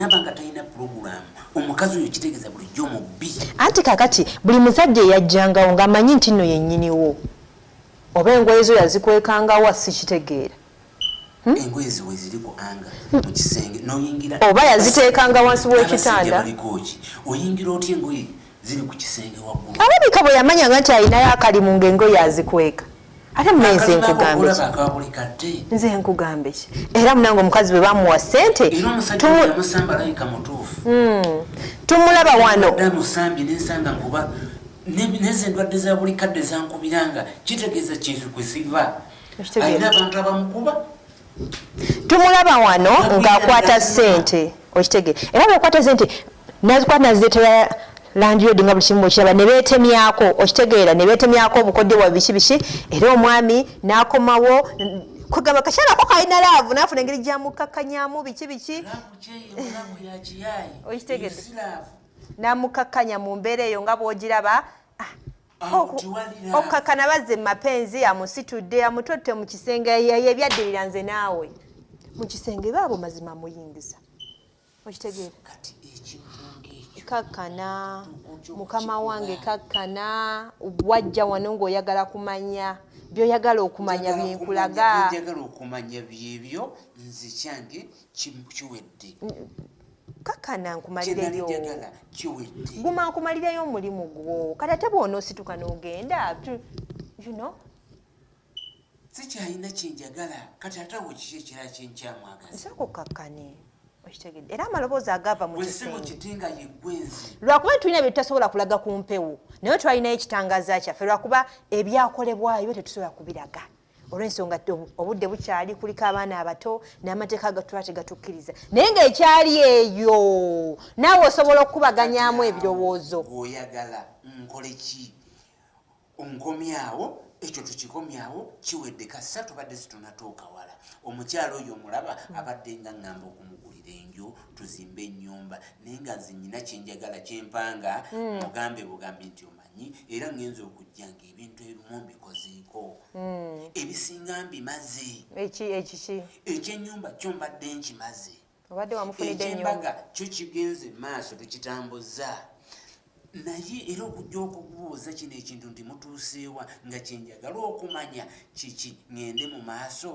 nabanga talina pulogulaamu omukazi oyo kitegeeza bulijjo mubbi anti kakati buli musajja eyajjangawo ng'amanyi nti nno yennyiniwo oba engoye zo yazikwekangawo asikitegeera hmm? engoye ziwe ziri ku anga mu kisenge noyingira oba yaziteekanga wansi w'ekitanda oyingira otya engoye ziri ku kisenge waggulu. Alabika bwe yamanyanga nti alinayo akalimu ng'engoye azikweka. Ate muna nze nkugambe ki? Nze nkugambe ki? Era munange omukazi bwe bamuwa ssente hmm. tumulaba wano. Neze ndwadde za buli kadde zankubiranga kitegeeza kintu kwe siva. Alina abantu abamukuba. tumulaba wano ng'akwata ssente okitege era bwekwata sente nazikwata naziretera landlord nga buli kimu bwekiraba ne beetemyako okitegeera ne beetemyako obukodyo bwa biki biki era omwami n'akomawo kugamba kakyalako kalina laavu naafuna engeri gyamukakkanyamu biki biki okitegedde namukakkanya mu mbeera eyo nga bwogiraba okukakana bazze mu mapenzi amusitudde amutotte mu kisenge yebyaddirira nze naawe mu kisenge baabo mazima muyingiza okitegeera kakkana mukama wange kakkana wajja wano ng'oyagala kumanya byoyagala okumanya byenkulaga kiwedde kakana nkumalireyo guma nkumalireyo omulimu gwo kati ate bwona osituka nogenda you know sikyalina kyenjagala kati ate awo kiki ekirala kyenkyamwagaza nsooka okkakkane okitegedde era amaloboozi agava mu kisimu kiti nga yeggwenzi lwakuba tulina bye tutasobola kulaga ku mpewo naye twalinayo ekitangaza kyaffe lwakuba ebyakolebwayo tetusobola kubiraga olwensonga ti obudde bukyali kuliko abaana abato n'amateeka agatuba tegatukkiriza naye ngaekyali eyo naawe osobola okukubaganyamu ebirowoozo oyagala nkole ki nkomyawo ekyo tukikomyawo kiwedde kasa tubadde situnatuuka wala omukyalo oyo omulaba abadde nga ngamba okumugulira enju tuzimbe enyumba naye nga nze nyina kyenjagala kyempanga hmm. mugambe bugambi nti manyi era ngenza okujja nga ebintu ebimu mbikozeeko hmm. ebisinga mbimaze ekyenyumba kyo mbadde nkimaze ekyembaga kyo kigenze maaso tukitambuzza naye era okujja okubuuza kino ekintu nti mutuuseewa nga kyenjagala okumanya kiki ngende mu maaso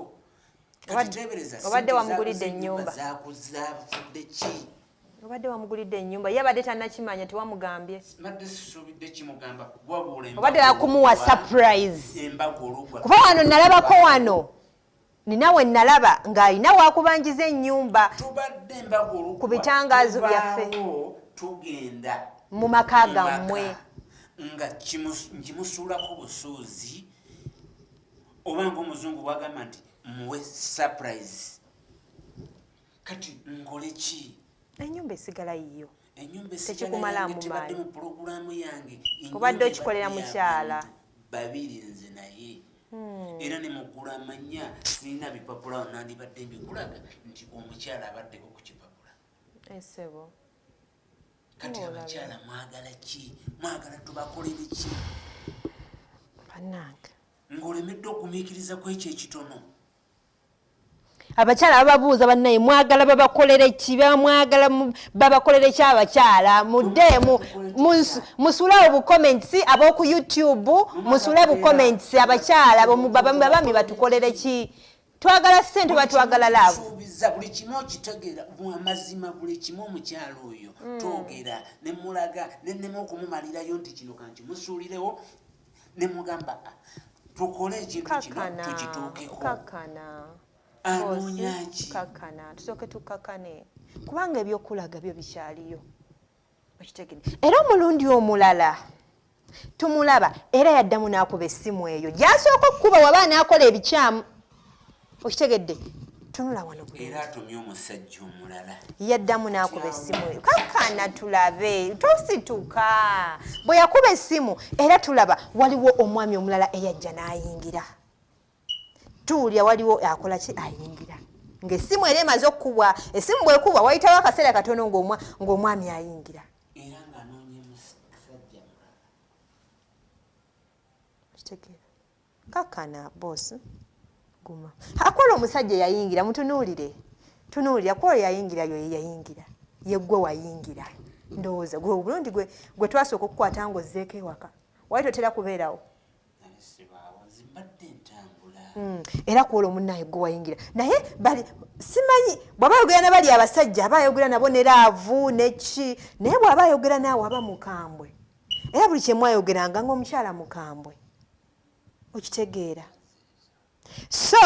obadde wamugulidde enyumba zakuzza bufudde ki obadde wamugulidde enyumba ye abadde tanakimanya tewamugambye badde sisubidde kimugamba wabula obadde wakumuwa surprise kuba wano nalabako wano ninawe nalaba ng'alina wakubanjiza enyumba ku bitangaazo byaffe mu maka gammwe nga nkimusuulako busuuzi oba ngaomuzungu bwagamba nti muwe surprise kati nkole ki enyumba esigala yiyo enyumba esigalaekibadde mu pulogulaamu yange obadde okikolera mukyala babiri nze naye hmm. era ne mugula amanya sirina bipapula nandibadde mbikulaga nti omukyala abaddeko ku kipapula esebo eh, kati abakyala mwagala ki mwagala tubakolere ki banange ng'olemedde okumiikiriza ku ekyo ekitono abakyala bababuuza bannaye mwagala babakolere ki bamwagala babakolere ki abakyala muddeemu musule obucomments ab'oku youtube musule bucomments abakyala babami batukolere ki twagala sente batwagala labusuubiza buli kimu okitegeera amazima buli kimu omukyalo oyo hmm. twogera nemulaga nenema okumumalirayo nti kino kankimusuulirewo ne mugamba ah, tukole ekintu kino tukituukeho anoonyaki kakana tusooke tukakane kubanga ebyokulaga byo bikyaliyo okitegede era omulundi omulala tumulaba era yaddamu n'akuba essimu eyo gyasooka okukuba waba anaakola ebikyamu okitegedde tunula wano era atumye omusajja omulala yaddamu n'akuba essimu eyo kakana tulabe tosituka bwe yakuba essimu era tulaba waliwo omwami omulala eyajja n'ayingira tuwulira waliwo akola ki ayingira ng'essimu era emaze okukubwa essimu bwekubwa wayitawo akaseera katono ng'omwami ayingira kakana boss guma akola omusajja yayingira mutunuulire tunuulira kwoyo yayingira yoyo yayingira yeggwe wayingira ndowooza gwe obulungi gwe gwe twasooka okukwata nga ozzeeko ewaka wali totera kubeerawo hmm, era kwola omunaye gwe wayingira naye bali simanyi bwaba ayogera na bali abasajja aba ayogera nabo ne laavu neki naye bwaba ayogera naawe aba mukambwe era buli kyemwayogeranga ngaomukyala mukambwe okitegeera so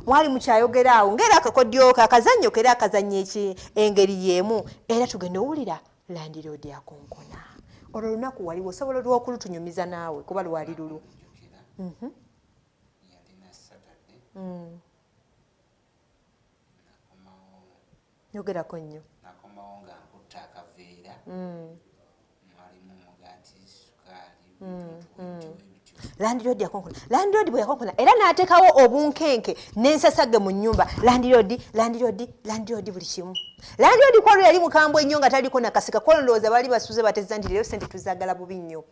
mwali mukyayogera awo ngaera akakodyoka akazannyo kera akazannya eki engeri y'emu era tugenda owulira landiroodi akonkona olwo olunaku waliwo osobola olwokulutunyumiza naawe kuba lwali lulu mhm. mm. nyogerako nnyo nakomawo nga nkutta akaveera mm. mwalimu mugati sukaali mm, mm. landiroodi yakonkona landiroodi bwe yakonkona era n'ateekawo obunkenke n'ensasage mu nnyumba landiroodi landiroodi landiroodi buli kimu landiroodi kwalo yali mukambwe nnyo nga taliko nakasika kwalo ndowooza baali basuze batezza nti leero sente tuzagala bubi nnyo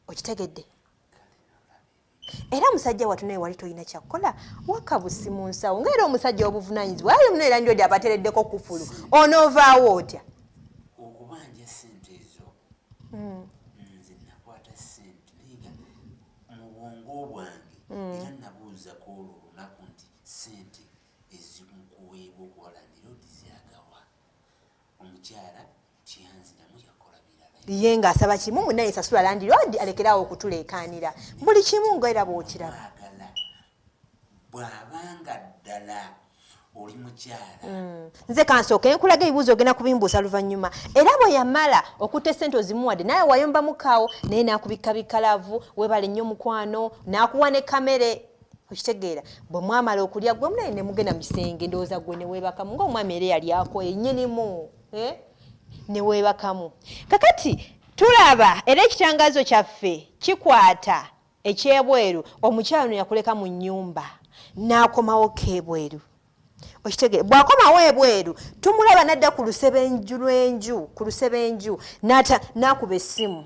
okitegedde era musajja watu naye wali tolina kyakukola wakabusi mu nsawo nga era omusajja obuvunanyizibwa ayo muna era ndiodi abatereddeko kufulu onoovaawo otya okubanja sente ezo hmm. nze nakwata sente nayenga mu bwongo bwange hmm. era nabuuza ku olwo olunaku nti sente ezimukuweebwa okuwalanira odizyagawa omukyala ye ng'asaba kimu munaye sasula landiroodi alekeraawo okutuleekaanira buli kimu nga era bw'okiraba bw'abanga ddala oli mukyala mm. nze kansooka enkulaga ebibuuzo ogenda kubimbuusa luvannyuma era bwe yamala okutta esente ozimuwadde naye wayomba mukaawo naye n'akubikka bikalavu webale nnyo omukwano n'akuwa ne kamere okitegeera bwe mwamala okulya gwe munaye ne mugenda mu kisenge ndowooza gwe ne weebakamu ng'omwami era yali akoye nnyinimu eh? newebakamu kakati tulaba era ekitangazo kyaffe kikwata ekyebweru omukyalo neyakuleka mu nyumba nakomawo kebweru okitegere bwakomawo ebweru tumulaba nadda ku lusebenju lwenju ku lusebenju nakuba essimu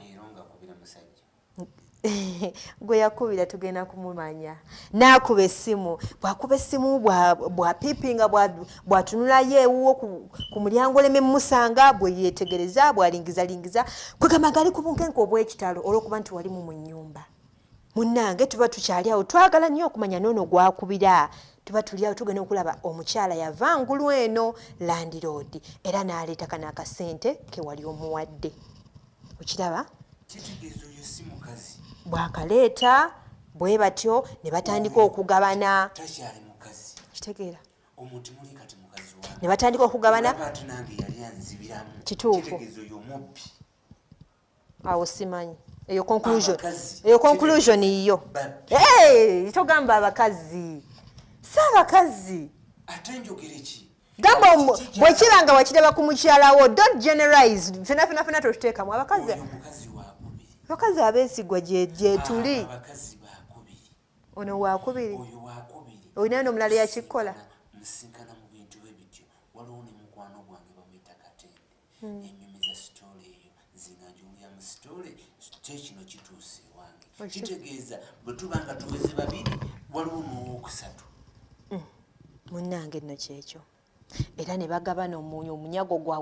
gwe yakubira tugenda kumumanya naakuba essimu bwakuba essimu bwapiipinga bwatunulayo ewuwo ku mulyango oleme mumusanga bwe yeetegereza bwalingizalingiza kwegamba ngali ku bunkenke obw'ekitalo olw'okuba nti walimu mu nnyumba munnange tuba tukyali awo twagala nnyo okumanya noono gwakubira tuba tuli awo tugenda okulaba omukyala yava ngulu eno landiroodi era n'aleeta kano akasente ke wali omuwadde okiraba bwakaleeta bwe batyo ne batandika okugabana kitegeera ne batandika okugabana kituufu awo simanyi eyo conclusion eyo conclusion yiyo togamba abakazi si abakazi ate njogere ki gamba bwekiba nga wakiraba ku mukyalawo don't generalize fena fena fena totuteekamu abakazi abakazi abeesigwa gyetuli ono wakubiri olina nomulala yakikola hmm. enyumi za sitole eyo nzinga njulira mu sitole kyekino kituusa ewange kitegeeza bwetuba nga tuweze babiri waliwo muwokusatu hmm. munnange nno kyekyo era ne bagabana omunyu omunyago gwabwe